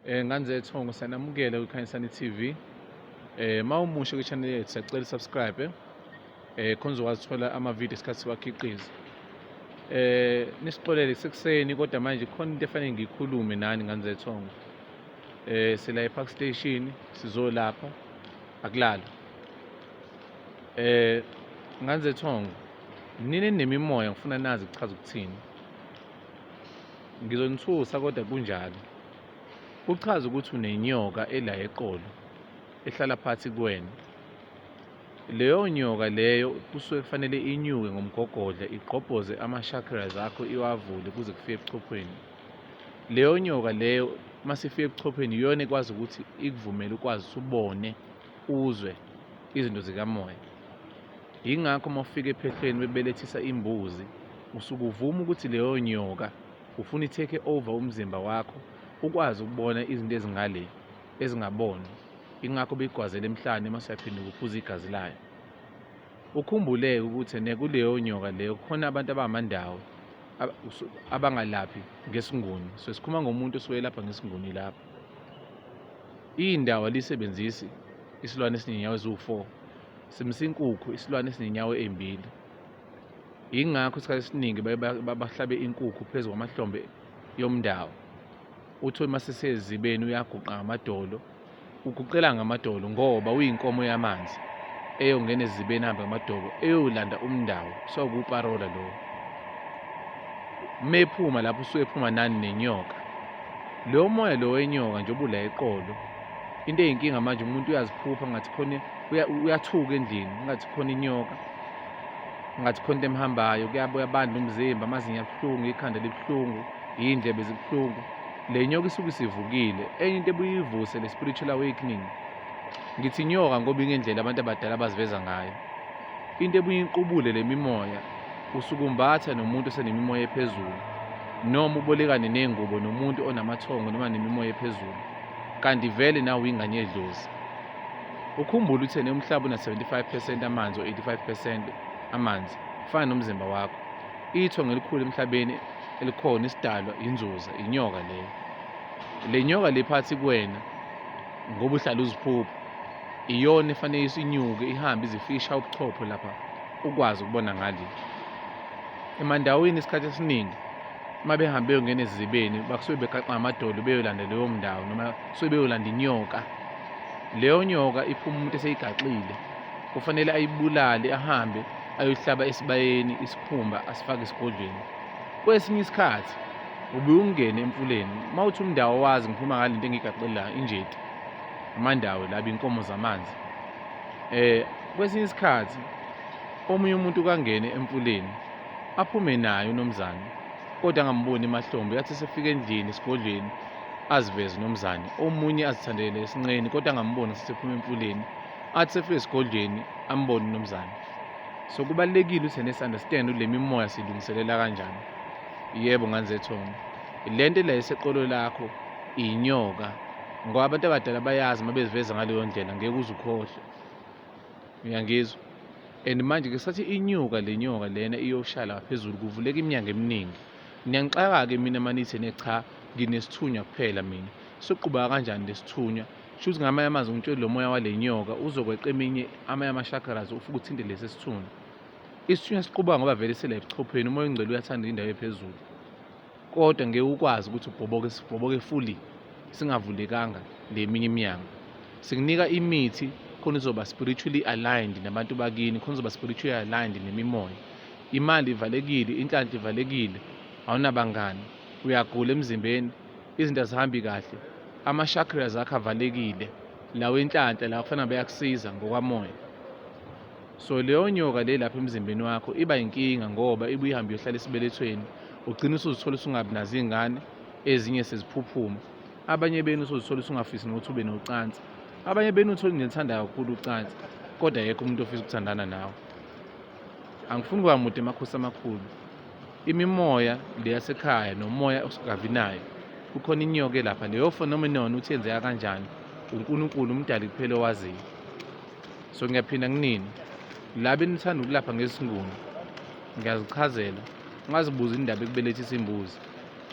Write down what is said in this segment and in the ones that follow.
Eh nganze Thongo sanamukela kwiKhanyisani TV. Eh mawumusha kwichannel yethu sacela subscribe. Eh khona uzokwazi uthola ama video esikhathi siwakhiqiza. Eh nisixolele sekuseni kodwa manje khona into efanele ngikhulume nani nganze Thongo. Eh sila ePark Station sizolapha akulala. Eh nganze Thongo nini nemimoya ngifuna nazi kuchaza ukuthini. Ngizonithusa kodwa kunjalo. Kuchaza ukuthi unenyoka ela eqolo ehlala phansi kuwena. Leyo nyoka leyo kusuke kufanele inyuke ngomgogodla igqobhoze ama-chakras akho iwavule kuze kufike ebuchophweni. Leyo nyoka leyo uma sifika ebuchophweni iyona ekwazi ukuthi ikuvumele ukwazi usubone uzwe izinto zikamoya yingakho uma ufika ephehlweni bebelethisa imbuzi usuke uvuma ukuthi leyo nyoka ufuna i-take over umzimba wakho ukwazi ukubona izinto ezingale ezingaboni ingakho beyigwazela emhlane uma siyaphinda ukuphuza igazi layo ukhumbuleke ukuthi nekuleyo nyoka leyo khona abantu abangamandawo abangalaphi ngesinguni so sikhuluma ngomuntu osuke elapha ngesinguni lapho Indawo alisebenzisi isilwane esinenyawo eziwu-4 simisa inkukhu isilwane esinenyawo ezimbili. Yingakho isikhathi esiningi babahlabe inkukhu phezu kwamahlombe yomndawo. Uthole uma sisezibeni uyaguqa ngamadolo, uguqela ngamadolo ngoba uyinkomo yamanzi eyongena ezibeni ahambe ngamadolo eyolanda umndawo sekuwuparola lowo. Uma ephuma lapho usuke ephuma nani nenyoka. Lo moya lo wenyoka nje obula eqolo. Into eyinkinga manje umuntu uyaziphupha ngathi khona uyathuka endlini, ngathi khona inyoka. Ngathi khona into emhambayo, kuyabuya bandla umzimba, amazinyo abuhlungu, ikhanda libuhlungu, iy'ndlebe zibuhlungu. Le nyoka isuke isivukile. Enye into ebuye ivuse le spiritual awakening. Ngithi inyoka ngoba ingendlela abantu abadala abaziveza ngayo. Into ebuye iqubule le mimoya Usukumbatha nomuntu osenemimoya ephezulu noma ubolekane ney'ngubo nomuntu onamathongo noma nemimoya ephezulu kanti vele nawe uyingane yedlozi. Ukhumbule ukuthi yena umhlaba una-75 percent amanzi o-85 percent amanzi kufana nomzimba wakho. Ithongo elikhulu emhlabeni elikhona isidalwa inzuza inyoka leyo. Le nyoka le phathi kuwena ngoba uhlala uziphupha iyona efanele isinyuke ihambe izifisha ubuchopho lapha ukwazi ukubona ngale emandawini isikhathi esiningi uma behambe beyongena ezizibeni basuke beqaqa ngamadolo beyolanda leyo mndawo noma suke beyolanda inyoka leyo nyoka iphuma umuntu eseyigaxile kufanele ayibulale ahambe ayohlaba esibayeni isikhumba asifake esigodlweni kwesinye isikhathi ubuye ungene emfuleni uma uthi umndawo wazi ngiphuma ngale nto engiyigaxelayo injeti amandawo laba inkomo zamanzi eh kwesinye isikhathi omunye umuntu kangene emfuleni aphume naye unomzane kodwa angamboni emahlombe yathi sefika endlini esigodlweni aziveze unomzane omunye azithandele esinqeni kodwa angamboni sesephuma emfuleni athi sefika esigodlweni ambone unomzane so kubalulekile ukuthi nesunderstand le mimoya silungiselela kanjani yebo nganzethongo le nto la iseqolo lakho inyoka ngoba abantu abadala bayazi uma beziveza ngaleyo ndlela ngeke uze ukhohlwe uyangizwa and manje ke sathi inyuka le nyoka lena iyoshala ngaphezulu kuvuleka iminyango eminingi ngiyanixaka-ke mina manithi ne cha nginesithunywa kuphela mina soqhubeka kanjani lesithunywa shuthi ngamanye amazwi ngitshele lo moya wale nyoka uzokweqa eminye amanye ama-chakras ufuke uthinte lesi sithunywa isithunywa siqubuka ngoba vele sela ebuchopheni umoya ongcwele uyathanda indawo ephezulu kodwa ngeke ukwazi ukuthi ubhoboke sibhoboke fully singavulekanga le minye iminyango sikunika imithi khona uzoba spiritually aligned nabantu bakini khona uzoba spiritually aligned nemimoya imali ivalekile inhlanhla ivalekile awunabangani uyagula emzimbeni izinto azihambi kahle ama-chakras akho avalekile lawo enhlanhla lawa kufanele beyakusiza ngokwamoya so leyo nyoka le lapha emzimbeni wakho iba inkinga ngoba ibuye ihambe iyohlala esibelethweni ugcina usuzithola usungabi nazo iy'ngane ezinye seziphuphuma abanye benu usuzithola usungafisi nokuthi ube nocansi abanye benu uthole nithanda kakhulu ucansi kodwa yekho umuntu ofisa ukuthandana nawe angifuni kuba mude emakhosi amakhulu imimoya le yasekhaya nomoya osingabi nayo kukhona inyoka elapha leyo phenomenon ukuthi yenzeka kanjani unkulunkulu umdali kuphela owaziyo so ngiyaphinda kunini laba enithanda ukulapha ngesinguni ngiyazichazela ungazibuza indaba ekubelethisa imbuzi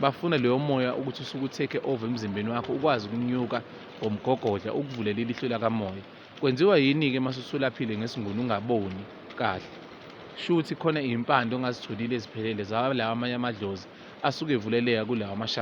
bafuna leyo moya ukuthi usuke utheke over emzimbeni wakho ukwazi ukunyuka ngomgogodla ukuvulele ilihlo lakamoya kwenziwa yini-ke uma susulaphile ngesinguni ungaboni kahle shuthi khona iy'mpande ongazitholile eziphelele zawalawa amanye amadlozi asuke evuleleka kulawa amashaka